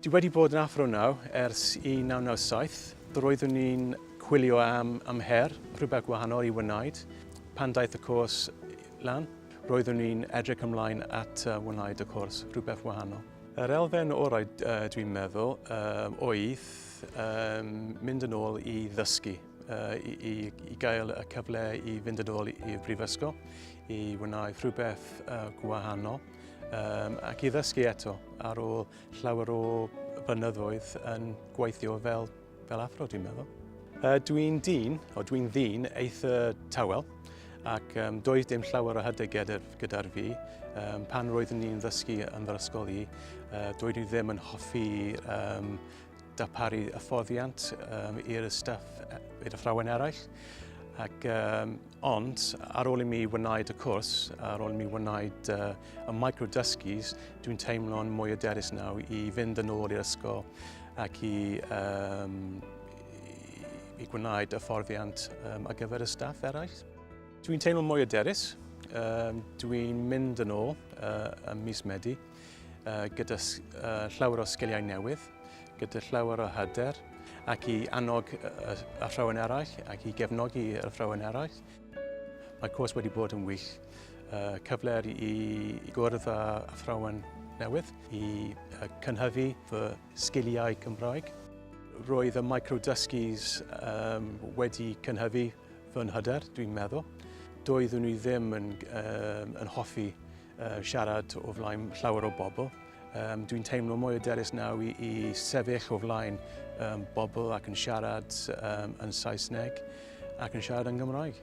Dwi wedi bod yn Athro Naw ers 1997. Roeddwn ni'n chwilio am, am her, rhywbeth gwahanol i wneud. Pan daeth y cwrs lan, roeddwn ni'n edrych ymlaen at wneud y cwrs, rhywbeth wahanol. Yr elfen orau dwi'n meddwl oedd mynd yn ôl i ddysgu, i, i, i gael y cyfle i fynd yn ôl i'r brifysgol, i wneud rhywbeth gwahanol. um, ac i ddysgu eto ar ôl llawer o blynyddoedd yn gweithio fel, fel athro, dwi'n meddwl. Uh, dwi'n dyn, o dwi'n ddyn eitha tawel, ac um, doedd dim llawer o hydau gyda'r gyda fi. Um, pan roeddwn ni'n ddysgu yn fy ysgol i, uh, doedd i ddim yn hoffi um, darparu hyfforddiant um, i'r staff, i'r athrawon eraill. Ac um, Ond ar ôl i mi wneud y cwrs, ar ôl i mi wneud uh, y micro-dysgus, dwi'n teimlo'n mwy aderus naw i fynd yn ôl i'r ysgol ac i, um, i gwneud y fforddiant um, ar gyfer y staff eraill. Dwi'n teimlo'n mwy aderus, um, dwi'n mynd yn ôl uh, ym mis Medi. gyda llawer o sgiliau newydd, gyda llawer o hyder, ac i annog y athrawon eraill ac i gefnogi y athrawon eraill. Mae cwrs wedi bod yn wych, cyfle i gwrdd â athrawon newydd, i cynhyfu fy sgiliau Cymraeg. Roedd y micro-dysgis wedi cynhyfu fy nhyder, dwi'n meddwl. Doeddwn i ddim yn hoffi Uh, siarad o flaen llawer o bobl. Um, Dwi'n teimlo mwy o derys naw i, i sefyll o flaen um, bobl ac yn siarad um, yn Saesneg ac yn siarad yn Gymraeg.